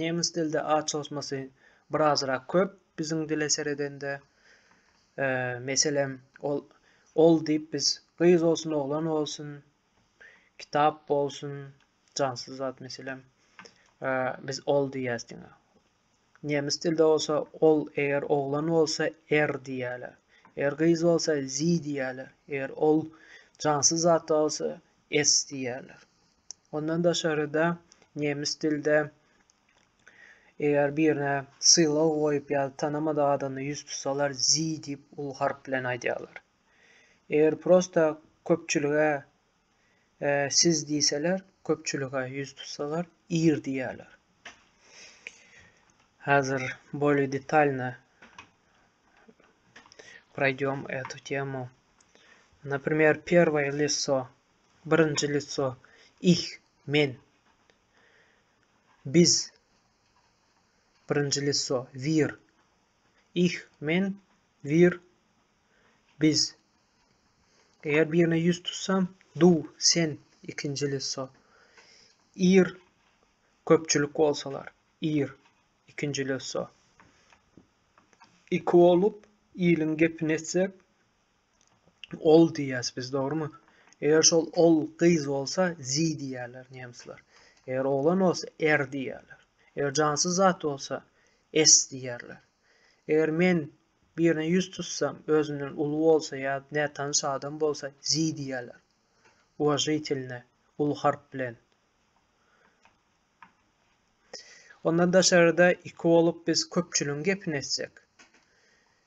Nemes dilde A çozmasy birazrak köp biziň dile seredende. Meselem, ol ol diýip biz gyz bolsun, oglan bolsun, kitap bolsun, jansyz zat meselem, biz ol diýýäs diňe. Nemes dilde bolsa ol eger oglan bolsa er diýýärler. Eger gyz bolsa sie diýýärler. Eger ol jansyz zat bolsa es diýýärler. Ondan daşary-da, nemes dilde eger birine sylag goýup ýa-da tanamadyk adamdan ýüz tutsalar Sie diýip uly harp bilen aýdýarlar. Eger prosta köpçülige Siz diýseler, köpçülige ýüz tutsalar Ir diýýärler. Häzir bolýa detalno proýdýom etu temu. Napremýer, perwoýe lisso. Birinji lico, Ich, men. Biz. Birinji lico, Wir. Ich, men, wir, biz. Eger birine ýüz tutsam, du, sen, ikinji lico. Ir, köpçülik bolsalar, ir, ikinji lico. Iki bolup, iliň gepini etsek, Ol diýýäs biz, dogrumy? Eger şol ol gyz bolsa, zi diýýärler nemsler. Eger oglan bolsa, er diýýärler. Eger jansyz zat bolsa, es diýýärler. Eger men birine ýüz tutsam, özümden uly bolsa ýa nätanyş adam bolsa, zi diýýärler. Uwažitelne, uly harp bilen. Ondan daşary-da, iki bolup biz köpçüligiň gepini etsek.